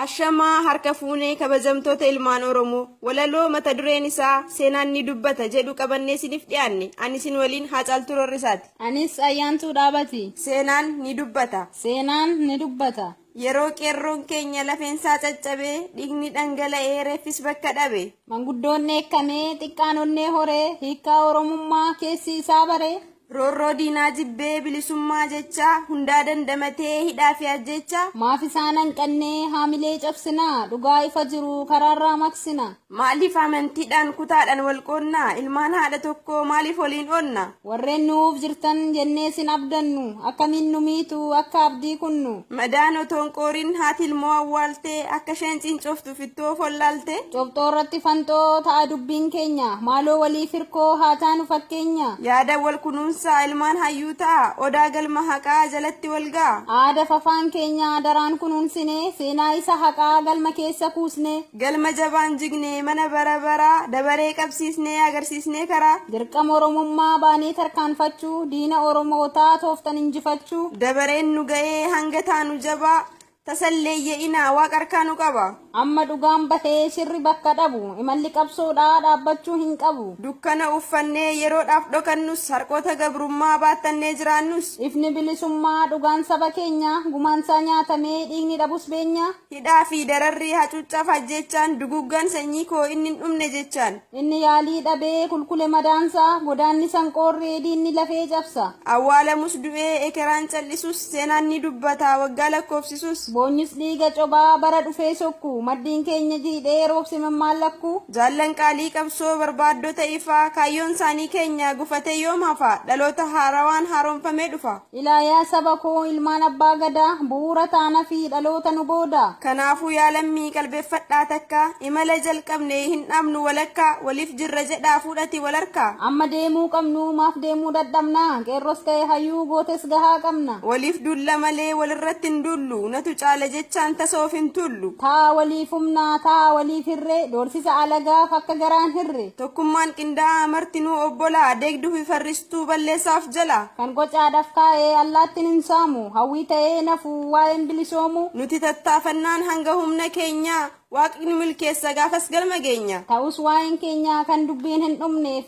Ashamaa harka fuunee kabajamtoota ilmaan Oromoo walaloo mata dureen isaa seenaan ni dubbata jedhu qabannee isiniif dhiyaanne ani isin waliin Haacaaltuu Roorrisaati. Anis Ayyaantuu Dhaabati. Seenaan ni dubbata. Seenaan ni dubbata. Yeroo qeerroon keenya lafeensaa caccabee dhiigni dhangala'ee reeffis bakka dhabe. Manguddoon dheekkamee xiqqaan onnee horee hiikkaa Oromummaa keessi isaa baree. Roorroo diinaa jibbee bilisummaa jecha, hundaa dandamatee hidhaa fi ajjeecha. Maaf isaan hanqannee haamilee cabsina, dhugaa ifa jiru karaarraa maqsina? Maaliif amantiidhaan kutaadhaan wal qoodna, ilmaan haadha tokkoo maaliif waliin oodna? Warreen nu'uuf jirtan jennee sin abdannu, akkamiin nu miitu akka abdii kunnu? Madaan otoo hin qoorin haati ilmoo awwaaltee, akka isheen ciincooftu. Fittoo follaalte. Cobxoo irratti fanxoo ta'a dubbiin keenya. Maaloo walii firkoo haa taanu fakkeenya. Yaada wal kunuunsaa ilmaan hayyuu ta'a. Odaa galma haqaa jalatti wal ga'a. Aada fafaan keenya daraan kunuunsinee. Seenaa isa haqaa galma keessa kuusnee. Galma jabaan jignee mana bara baraa. Dabaree qabsiisnee agarsiisnee karaa. Dirqama Oromummaa baanee tarkaanfachuu. Diina Oromootaa tooftan injifachuu. Dabareen nu ga'ee hanga taanu jabaa. Tasalleeyye'inaa Waaq harkaa nu qaba. Amma dhugaan bahee shirri bakka dhabu. Imalli qabsoodhaa dhaabbachuu hin qabu. Dukkana uffannee yeroodhaaf dhokannus. Harqoota gabrummaa baattannee jiraannus. Ifni bilisummaa dhugaan saba keenyaa. Gumaansaa nyaatamee dhiigni dhabus beenyaa. Hidhaa fi dararri, hacuuccaaf ajjeechaan. Duguuggaan sanyii koo inni hin dhumne jechaan. Inni yaalii dhabee kulkule madaansa, godaannisan qoorree diinni lafee cabsa. Awwaalamus du'ee, ekeraan cal'isus, seenaan ni dubbata, waggaa lakkoofsisus. Boonyis dhiiga cobaa, bara dhufee sokku, maddiin keenya jiidhee, roobse mammaan lakku. Jaallan qaalii qabsoo, barbaaddota ifaa, kaayyoonsaanii keenya, gufatee yoom hafa? Dhaloota haarawaan haaromfamee dhufa. Ilaa yaa saba koo ilmaan abbaa gadaa bu'uura taanafii dhaloota nu boodaa. Kanaafuu yaa lammii qalbeffadhaa takkaa Imala jalqabne hin dhaabnu walakkaa Waliif jirra jedhaa fuudhati wal harkaa. Amma deemuu qabnu maaf deemuu dadhabna Qeerros ta'e hayyuu gootes gahaa qabna. Waliif duulla malee walirratti hin duullu Natu caala jechaan tasa of hin tuullu. Ta'a waliif humna ta'a waliif hirree Doorsisa alagaaf akka garaan hirre. Tokkummaan qindaa'aa martinuu obbolaa Deegdufi farristuun. Jirtuu balleessaaf jalaa. Kan gocaadhaf kaa'e allaattin hin saamu. Hawwii ta'ee hin hafu waa'een bilisoomu. Nuti tattaafannaan hanga humna keenyaa. Waaqni nu milkeessa gaafas galma geenya. Ta'us waa'een keenya kan dubbiin hin dhumne.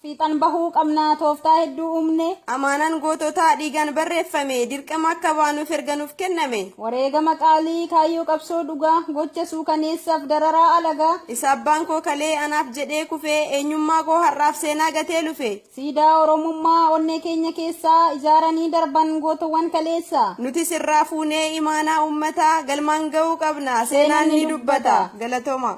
Fiixan bahuu qabna tooftaa hedduu uumne. Amaanaan goototaa dhiigaan barreeffame. Dirqama akka baanuuf erga nuuf kenname. Wareegama qaalii kaayyoo qabsoo dhugaa, gocha suukaneessaaf dararaa alagaa. Isa abbaan koo kalee anaaf jedhee kufee, eenyummaa koo har'aaf seenaa gatee lufee. Siidaa Oromummaa onnee keenya keessaa, ijaaranii darban gootowwan kaleessa. Nutis irraa fuunee imaanaa uummataa, galmaan ga'uu qabna seenaan ni dubbata. Galatoomaa.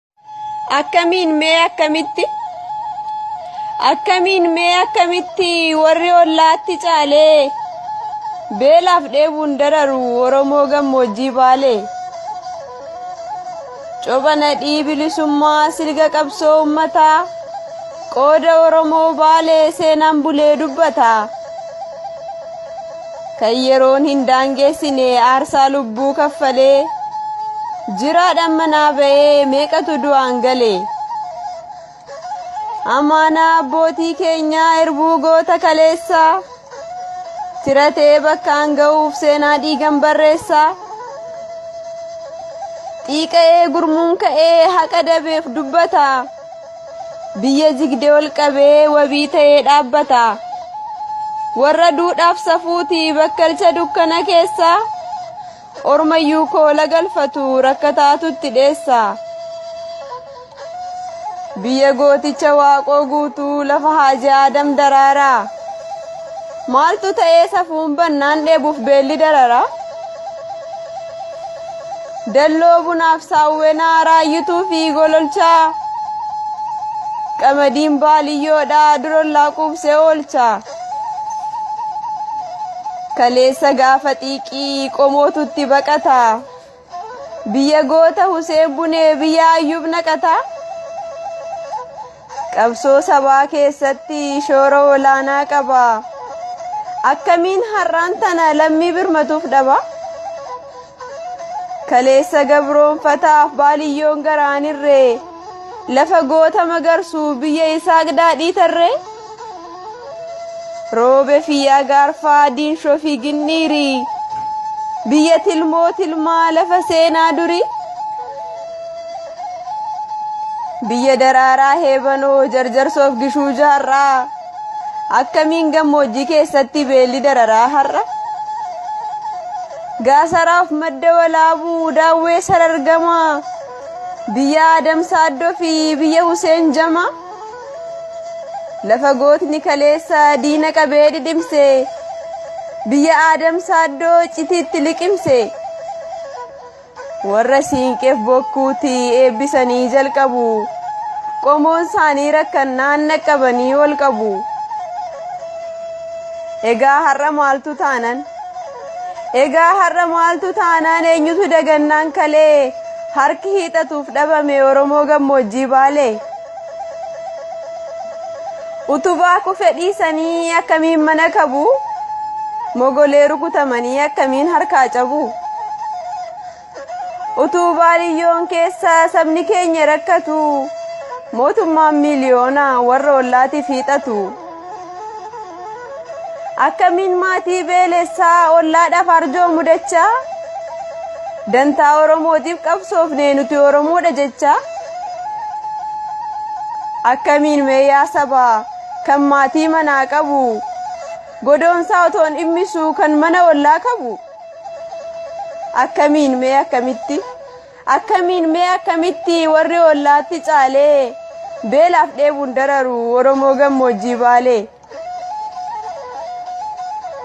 akkamiin mee akkamitti akkamiin mee akkamitti warri ollaatti caalee beelaaf dheebuun dararu oromoo gammoojjii baalee copha nadhii bilisummaa silga qabsoo ummataa qooda oromoo baalee seenaan bulee dubbata. kan yeroon hin daangeessine aarsaa lubbuu kaffalee jiraadhaan manaa ba'ee meeqatu du'aan gale amaanaa abbootii keenyaa irbuu goota kaleessaa tiratee bakkaan ga'uuf seenaa dhiigan barreessaa xiiqa'ee gurmuun ka'ee haqa dabeef dubbataa. Biyya jigde ol qabee wabii ta'ee dhaabbata. Warra duudhaaf safuuti bakkalcha dukkana keessa ormayyuu koola galfatu rakkataatutti dheessa. Biyya gooticha waaqoo guutuu lafa haaji aadam daraara. Maaltu ta'ee safuun bannaan dheebuuf beelli darara. Dalloo bunaaf saawwenaa raayyituu fi gololchaa. Qamadiin baaliyyoodha durollaa quubsee oolcha. Kaleessa gaafa xiiqii qomootutti baqata. Biyya goota Huseen Bunee biyya Ayyuub naqata. Qabsoo sabaa keessatti shoora olaanaa qaba. Akkamiin har'aan tana lammii birmatuuf dhaba? Kaleessa gabroonfataaf baaliyyoon garaan irree lafa goota magarsuu biyya isaaq daadhii tarree. Roobe fi yaa gaarfaa diinshoo fi ginniirii biyya tilmoo tilmaa lafa seenaa durii biyya daraaraa heebanoo jarjarsoof gishuu jaarraa akkamiin gammoojjii keessatti beelli dararaa har'a gaasaraaf madda walaabuu daawwee sarargamaa biyya adamsaaddoo fi biyya huseen jamaa. Lafa gootni kaleessa diina qabee dhidhimse, biyya Aadam Saaddoo citiitti liqimse. Warra siinqeef bokkuutti eebbisanii jalqabu, qomoon isaanii rakkannaan dhaqqabanii ol qabu. Egaa har'a maaltu taanan? Egaa har'a maaltu taanaan eenyutu dagannaan kalee harki hiixatuuf dhabame Oromoo gammoojjii baalee. Utubaa kufe dhiisanii akkamiin mana kabu mogolee rukutamanii akkamiin harkaa cabu. Utuu baadiyyoon keessa sabni keenya rakkatu mootummaan miiliyoona warra ollaatiif hiixatu. Akkamiin maatii beelessaa ollaadhaaf arjoo mudacha dantaa Oromootiif qabsoofnee nuti Oromoodha jecha. Akkamiin meeyaa saba kan maatii manaa qabu godoonsaa otoon dhimmisuu kan mana ollaa qabu. akkamiin mee akkamitti akkamiin mee akkamitti warri ollaatti caalee beelaaf dheebuun dararu oromoo gammoojjii baalee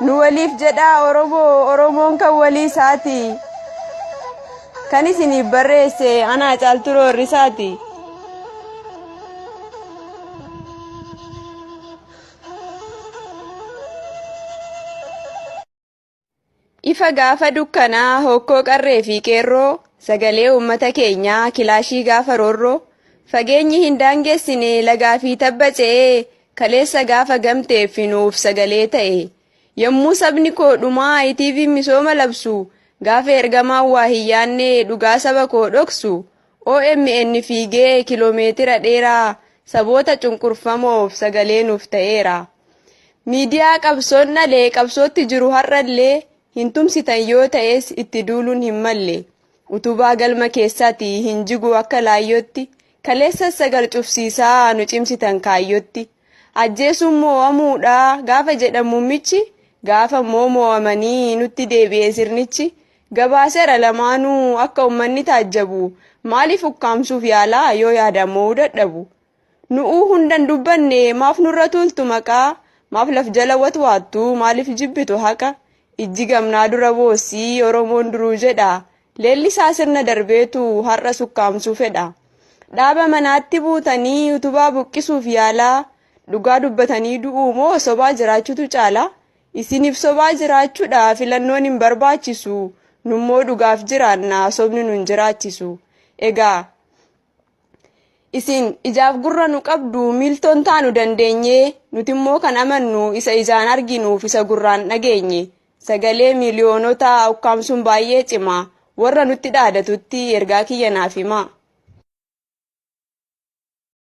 nu waliif jedhaa oromoo oromoon kan walii isaati kan isiniif barreesse anaa caaltu roorrisaati. Ifa gaafa dukkanaa hokkoo qarree fi qeerroo sagalee uummata keenyaa kilaashii gaafa roorroo fageenyi hin daangessine lagaa fi tabba ce'ee kaleessa gaafa gamtee fi nuuf sagalee ta'e yommuu sabni koo dhumaa ITV misooma labsu gaafa ergamaan waa hin yaannee dhugaa saba koo dhoksu OMN fiigee kiloomeetira dheeraa saboota cunqurfamoof sagalee nuuf ta'eera. Miidiyaa qabsoon dhalee qabsootti jiru har'allee hin tumsitan yoo ta'es itti duuluun hin malle. Utubaa galma keessaati hin jigu akka laayyootti kaleessas sagal cufsiisaa nu cimsitan kaayyootti. Ajjeesuun moo'amuudha gaafa jedhan muummichi gaafa immoo moo'amanii nutti deebi'e sirnichi gabaaseera lamaanuu akka ummanni taajjabu maaliif ukkaamsuuf yaalaa yoo yaadaan mo'uu dadhabu nu'uu hundan dubbanne maaf nurra tuultu maqaa maaf laf jala watwaattu maaliif jibbitu haqa ijji gamnaa dura boossii oromoon duruu jedha leellisaa sirna darbeetu har'a sukkaamsuu fedha dhaaba manaatti buutanii utubaa buqqisuuf yaalaa dhugaa dubbatanii du'uu moo sobaa jiraachutu caala Isinif sobaa jiraachudha filannoon hin barbaachisu nummoo dhugaaf jiraanna sobni nun jiraachisu egaa isin ijaaf gurra nu qabdu miiltoon taanu dandeenye nuti immoo kan amannu isa ijaan arginuuf isa gurraan dhageenye sagalee miiliyoonota ukkaamsuun baay'ee cima warra nutti dhaadatutti ergaa kiyya naaf himaa.